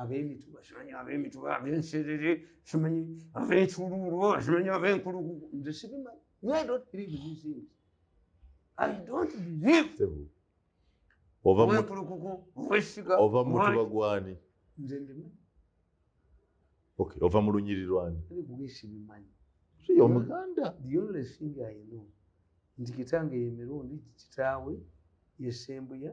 abemituba simanyi abemituba abenserere simanyi abenculuulu simanyi abenkulugu nze sibimanyi ova mu lunyiri lwani omuganda nti kitange yemirundi kitaawe yesembuya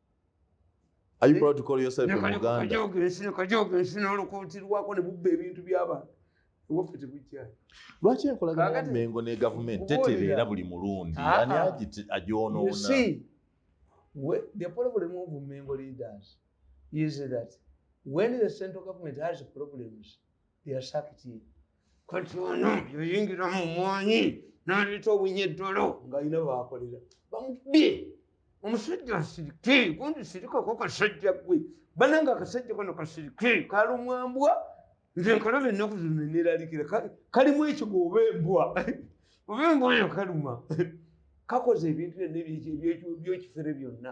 Are you proud to call yourself a Muganda? lwaki enkolagana mengo ne gavumenti tetereera buli mulundi ah, ah. ani agyonoona yasakiti kati ono yoyingira mu mwanyi naleeta obunyeddolo ngaalina baakolera bamubye omusajja asirike gundi sirikako kasajja gwe bananga akasajja kano kasirike kalumwambwa nze nkalaba ennaku zino neralikira kalimu ekigo oba embwa oba embwa eyo kaluma kakoze ebintu byonna ebyekifere byonna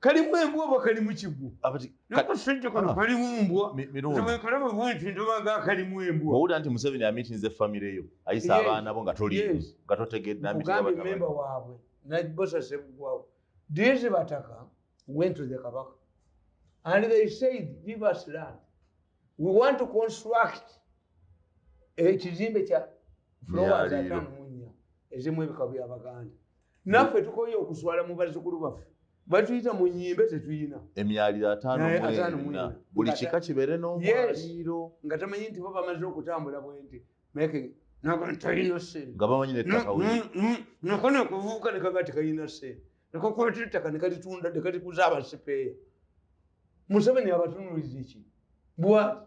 kalimu embwa oba kalimu kigwo nakasente kano ah. kalimu mbwa ewekalaba bwenti ndobaga kalimu embwa owulira nti museveni amitinze famiry yo ayisa abaana bo nga toli nga totegeddeamemba waabwe nabosasebugwawo these bataka went to the kabaka and they said give us land we want to construct ekizimbe kya flowers atamunya ezimu ebika byabaganda naffe tukoye okuswala mu bazukulu baffe batuyita mu nyimbe tetuyina emyaliro atanmwena buli kika kibeere nomwaliro nga tamanyi nti bo bamaze okutambula bwenti meke nabantalina sente nga bamanyi nettaka nakona kuvuuka nekaba tekalina sente nekakwata ettaka nekalitunda nekalikuza abasipeeya museveni abatunulizeki bwati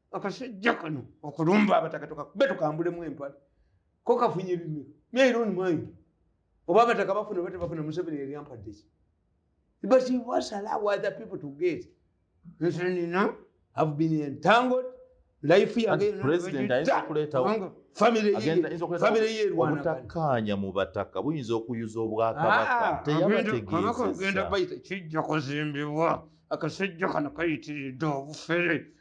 akasajja kano okulumba abataka tukakube tukambulemu empale ko kafunye bimiro myairon mind oba abataka bafuna oba tebafuna museveni yali ampaddeki but he was allow other people to get nsenina have been entangled life yageobutakkaanya mu bataka buyinza okuyuza obwakabakateyabategeezakugenda ah, baita kijja kuzimbibwa akasajja kano kayitiridde obufere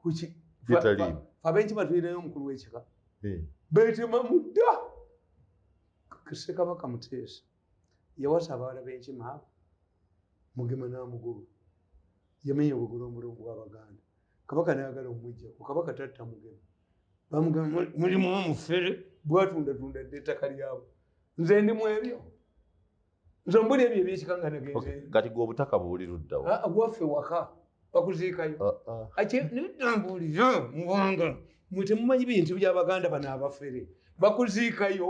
kuki gitaliimu abenkima tulinayo omukulu w'ekika eh. betema mudda ssekabaka muteesa yawasa abaana b'enkima abo mugema n'amugulu yamenya ogugula omulungu w'abaganda kabaka nayagala omujja ku kabaka tatta mugema bamugamba mulimu omufere bwatundatunda dda ettaka lyabo nze ndi mu ebyo nze mbuli ebyo ebyekikanganagenkati gwe obutaka buli luddawo ah, ah, gwaffe waka bakuziikayo ah, akyebitambulira muwanga mwe temumanyi bintu byabaganda bano abafere bakuziikayo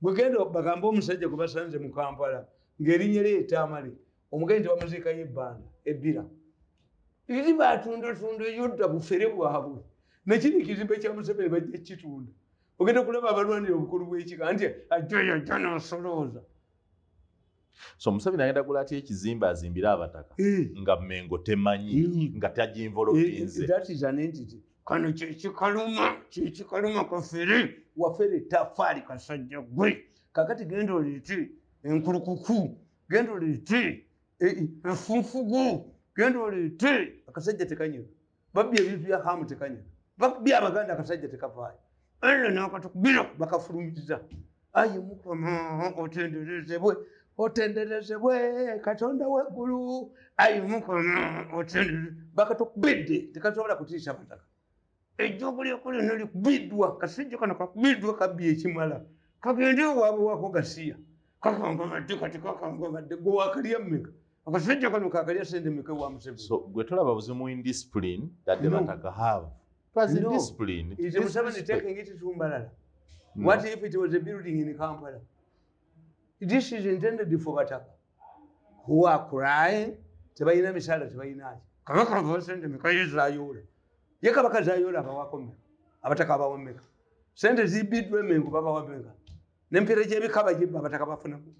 gwegenda bagamba omusajja gwe basanze mu kampala ng'erinnya lye etaamale omugenyi tebamuziikayo ebbanda ebbira iri batundotunda yodda bufere bwabwe nekiri ekizimbe kya museveni bajja kukitunda ogenda kulaba abalwanira obukulu bwekika nti ajjayo ajja nasolooza so musabi nagenda gula atya ekizimbe azimbire abataka eh. nga mengo temanyi eh. nga taginvoloinze eh, kano kyekikaluma kyekikaluma kafere wafere tafaali kasajja gwe kakati genda olete enkulukuku genda olete efunfugu genda olete akasajja tekanyega babbi ebintu bya hamu tekanya babbi abaganda akasajja tekavaayo eno nakatukubira bakafulumiza ayi mukama otenderezebwe otenderezebwe katonda weggulu ayi mukama otendereze bakatukubidde tekasobola kutiisa bataka ejjogo lyokulino likubiddwa kasajja kano kakubiddwa kabbi ekimala kagende owabwe wako gasiya kakangabadde kati kakangabadde gwe wakalya mmeka Akasajja kano kakalya sente meka wa Museveni. So gwe tolaba buzimu in discipline that the Bataka have. It was in discipline. Is the Museveni taking it to Mbalala? What if it was a building in Kampala? This is intended for Bataka. Who are crying? Tebayina misala tebayina aje. Kabaka wa sente meka yizayola. Ye kabaka zayola abawako meka. Abataka abawa meka. Sente zibidwe mengu baba wa meka. Nempere jebikaba jibba abataka bafuna meka.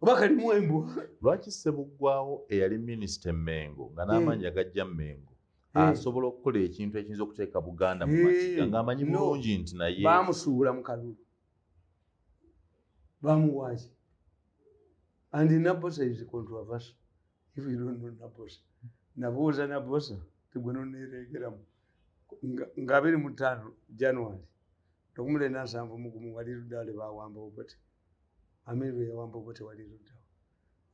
oba kalimu embwa lwaki sebuggwawo eyali minisita emengo nga n'amaanyi agajja mengo asobola okukola ekintu ekiyinza okuteeka buganda mu makiga ng'amanyi bulungi nti naye bamusuubula mu kalulu bamuwaaki and nabosa is controversy if you don't know nabosa nabuuza nabosa tegwe noneereegeramu nga abiri mu ttaano january nokumula enansanvu mugumu wali ludaale bawambawo bati amerwe yawamba obo tewali luddawo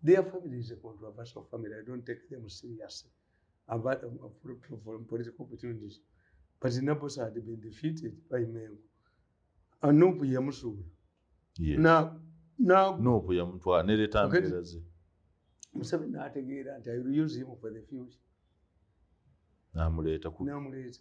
their family is a controversial family i don't take them seriously about um, uh, political opportunities but nabos had been defeated by mengo anopu yamusuula nopu yamutwala nereta mbeera ze museveni nategeera nti i will use him for the future namuleeta namuleeta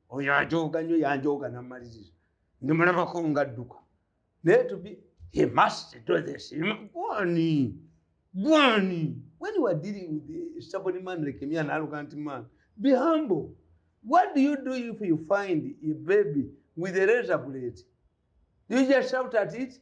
oyo ajooga nyo yanjooga namaliriza ndimulabako ngadduka naye tubi he must do this gwani gwani when you are dealing with a stubborn man like me an arrogant man be humble what do you do if you find a baby with a razor blade you just shout at it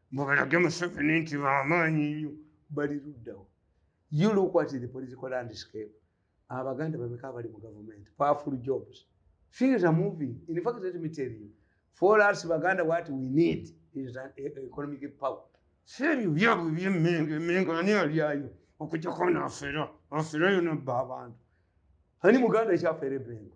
mbu balage museveni nti bamaanyi nnyo bali luddawo you look at the political landscape abaganda bameka abali mu gavumenti powerful jobs things are moving in fact let me tell you for us baganda what we need is an e, e, economic power seebyo byabwe byemmengo emmengo ani alyayo okujjako naafera aferayo nabba abantu ani muganda ekyafera emengo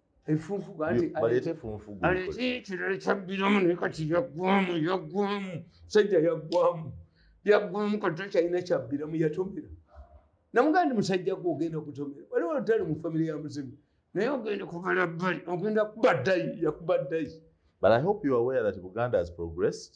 efunfugu ati Yo- baleete efunfugu aleete ekirala kyabbiramu naye kati yaggwamu yaggwamu musajja yaggwamu yaggwamu kati takyalina kyabbiramu yatomera namugamba ndi musajja gwe ogenda kutomera waliwo olutali mu famire ya muzimu naye ogenda kubala bbali ogenda kuba ddayi yakuba ddayi but i hope you are aware that buganda has progressed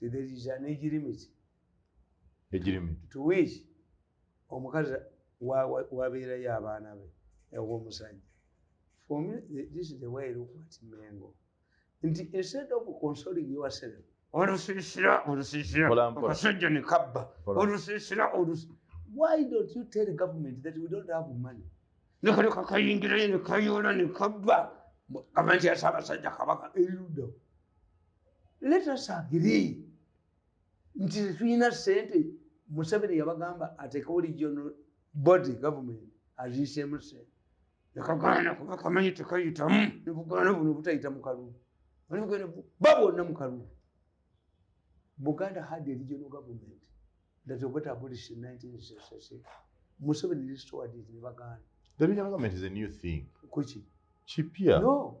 there is an age limit age limit to which omukazi wabeerayo abaana be ew'omusajja for me this is the way look at mengo nti instead of consoling yourself olusiisira olusiisira akasajja ne kabba olusiisira olusi why don't you tell government that we don't have money nekaleka kayingirayo ne kayoola ne kabba abantu yasabasajja kabaka erudo letasagiri nti tetulina sente museveni yabagamba atekewo regional body government aziisemu sente nekagaana kuba kamanyi tekayitamu nebugaana buno butayita mukalulu ba bonna mukalulu buganda had a regional government that got abolished in 1966 museveni restored it nebagaana the regional government is a new thing kuki kipya no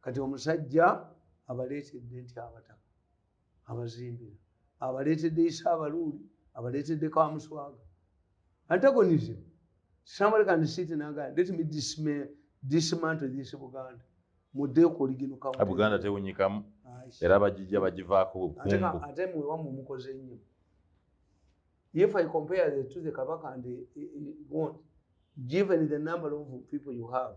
kati omusajja abaleetedde nti abataka abazimbira abaleetedde isa abaluuli abaleetedde kamuswaga antagonism somebody can sit in Uganda. Let me dismay, dismantle this Buganda. Mudde ku oligino kawo. A Buganda te unyikamu. Era bajija bajiva ku kumbu. Ateka ate mwe wamu mukoze nnyo. If I compare the to the Kabaka and the, the, the one, given the number of people you have,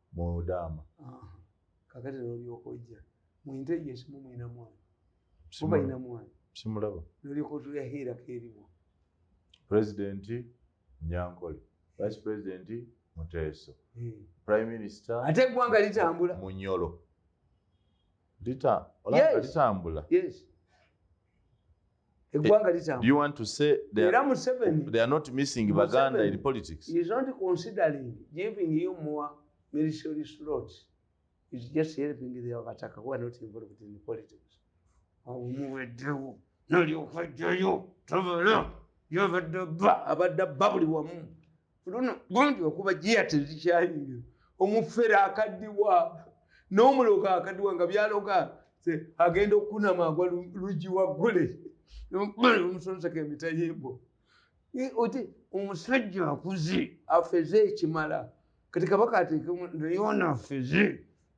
mudaama kakati nolyoka ojja muinte yesu mumwina mwana mubalina mwana simulaba nolyoka otulya heera keriwa pulezidenti nyankole vice pulezidenti muteeso eh. prime minister ate eggwanga litambula munyolo litambula yes. eggwanga litambulaera museveniomuweddewo nalyokwejjayo tobala yabadde bba abadde bba buli wamu luno gundi okuba jiya tezikyayingira omufere akaddiwa n'omuloga akaddiwa nga byaloga agenda okukunama agwa lugi waggule omusonseka emitayimbo oti omusajja akuze afeze ekimala kati kabaka ateekemu naye ono afeze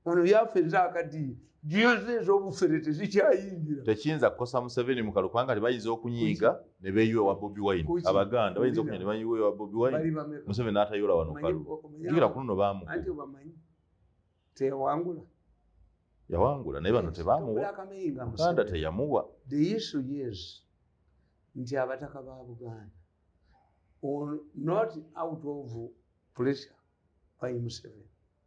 ono yafa ezakadiye jiyoze ezobufere tezikyayingira tekiyinza kukosa museveni mukalu kubanga tebayinza okunyiiga ne beyiwa ewa bobi wine abaganda bayinza okunya ne bayiwa ewa bobi wine museveni n'atayola wano kalu jukira kuno no bamuku teyawangula yawangula naye bano tebamuwa muganda teyamuwa the issue is nti abataka ba buganda not out of pressure by museveni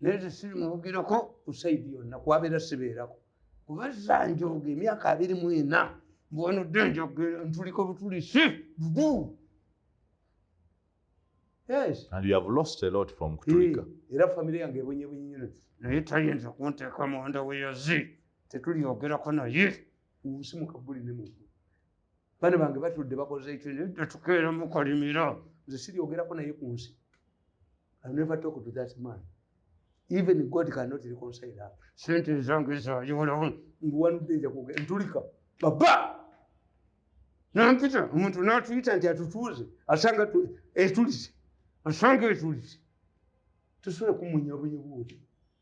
naye tesiri mubugirako kusaidi yonna kwabeera sibeerako kuba zanjoga emyaka abiri mu ena mbwanodde njogera ntuliko butulisi dudu era famiry yange ebonyebunyinyo naye tayinza kunteeka munda weyazi tetulyogerako naye nsimuka buli ne mu bana bange batudde bakoze ekyo netukeera mukolimira nze siryogerako naye ku nsi I never talk to that man. Even God cannot reconcile her. Saint is wrong, is wrong. You will own. In one day, you will get into Rika. Baba! Nampita, umuntu na tuita nti atutuze, asanga tu, etulize, asanga etulize. Tusule kumunya bunye buwe.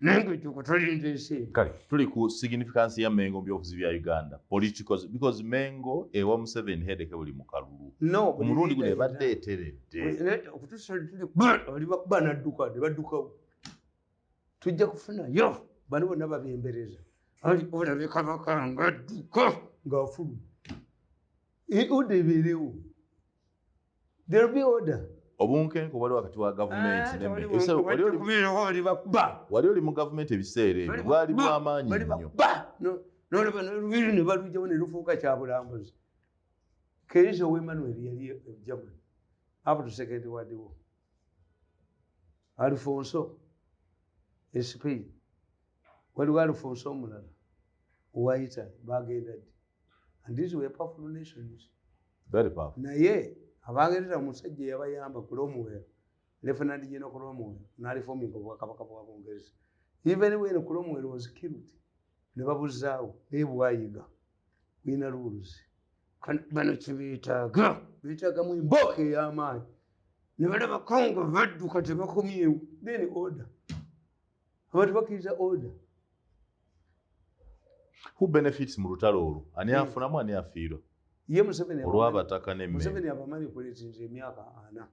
nange tuko tulinda ensi kale tuli ku significance ya mengo mu byobufuzi bya uganda political because mengo ewa museveni hedeke buli mu kalulu no omulundi guno ebadde eteredde okutusa tuli bali bakuba nadduka ne baddukawo tujja kufuna yo bano bonna babembereza ali olabe kabaka nga adduka ng'afulu e oda ebeerewo There will be order. obunkenke obwali wakati wa gavumenti ne me- ebisera- wali oli- Balibakuba. wali oli mu gavumenti ebiseera ebyo bwali bwamaanyi nnyo Balibakuba. No- nolaba nolubiri ne balugyawo ne lufuuka kyabulambuzi keezo wemanuel yali e german up to second world war alfonso e spain waliwo alfonso omulala owa italy bagenda ddi and these were powerful nations very powerful naye abangereza omusajja yabayamba ku lwomuwero lieutenant general ku lwomuwero nalifominga obwakabaka bwa bungereza even when ku lwomuwero was killed ne babuzaawo naye bwayiga buyina luwuluzi bano kyebeetaaga beetaagamu embooka ey'amaanyi ne balabako nga badduka tebakomyewo then order abantu bakkiriza oda who benefits mu lutalo olwo ani hmm. afunamu ani afiirwa ye museveni olwabataka nemuseveni abamanyi kulezinza emyaka ana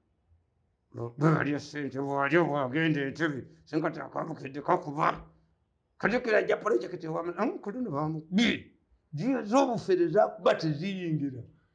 bwalya sente bwalya bwagenda entebe senkati akabukedde kakuba kajukira ajja pulojekiti wamu kuluno bamubi jiya zobufere zakuba teziyingira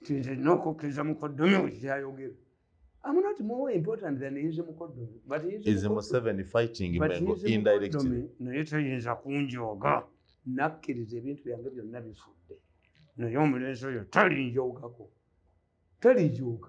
nti nze nina okukkiriza mukoddomi we kyayogera I'm not more important than his mukoddomi but his is Museven fighting Mengo indirectly naye tayinza kunjooga nakkiriza ebintu byange byonna bifudde naye omulenzi oyo talinjoogako talijooga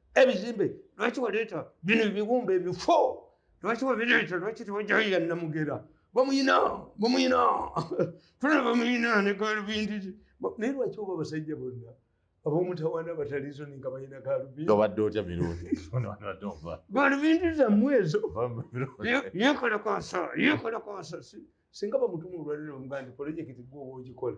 ebizimbe lwaki waleeta bino ebiwumba ebifo lwaki wabireeta lwaki tewajayira namugera bamuyina bamuyina tuna bamuyina negalubindi naye lwaki oba abasajja bonna abomutawana batalizo ninga balina galubindiobadde otya mirundi galubindi zammwe ezo yekola kwasa yekola kwasa singa bamutuma olwaliro omugandi polojekiti gwoba ogikola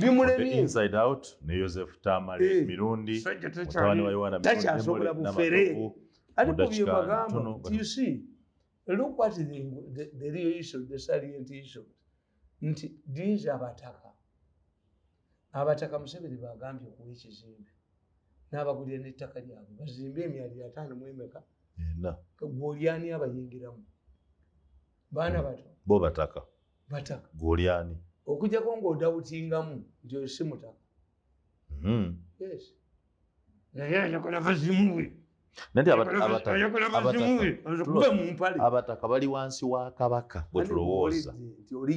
bimulemiyetakyasobola bufere ariko byebagamba you see look what the, the, the real issue the salient issue nti these abataka abataka museveni bagambye okuwa ekizimbe n'abagulira n'ettaka lyabwe bazimbe emyali ataano mu emeka gwolyani abayingiramu baana bato bo bataka bataka gwoli ani okujako ngaodawutingamu nti oyo si mutaka hmm. yes naye ayagala bazimuwe abataka bali wansi wa kabaka bwetulowooza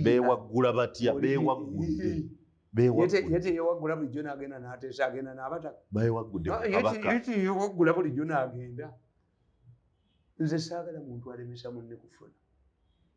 bewaggula batya bewaggudde bewaggula bulijjo nagenda nateesa agenda nabataka bewagguddeyewaggula bulijjo nagenda nze saagala muntu alemesa munne kufuna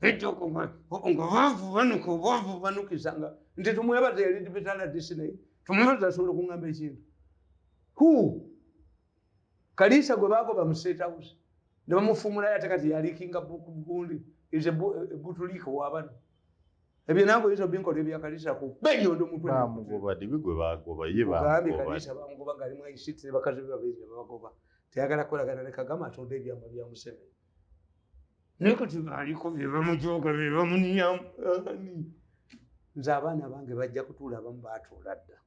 ejja okuma nga bavubanuka obavubanukisa nga nti tumwebaza yali dibitaladisi naye tumwebaza asobola okungamba ekintu hu kaliisa gwe bagoba mu state house ne bamufumulayo ate kati yalikinga bukugundi is a butuliika wabano ebyo nange oyinza obinkola ebyakaliisa ku benyondo mutwe bamugoba dibi gwe bagoba ye bamugoba kaliisa bamugoba ngalimu aisitire bakazi be babiri ne babagoba teyagala kukolagana ne kagama atonda ebyama bya museveni naye kati baaliko be bamujooga be bamuniyamu nze abaana bange bajja kutuula abamu baatuula dda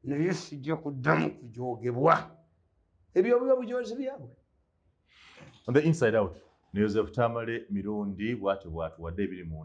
naye sijja kuddamu kujoogebwa ebyo buba bujoozi byabwe on the inside out ne yosefu tamale mirundi bwatyo bwatuwadde ebiri mu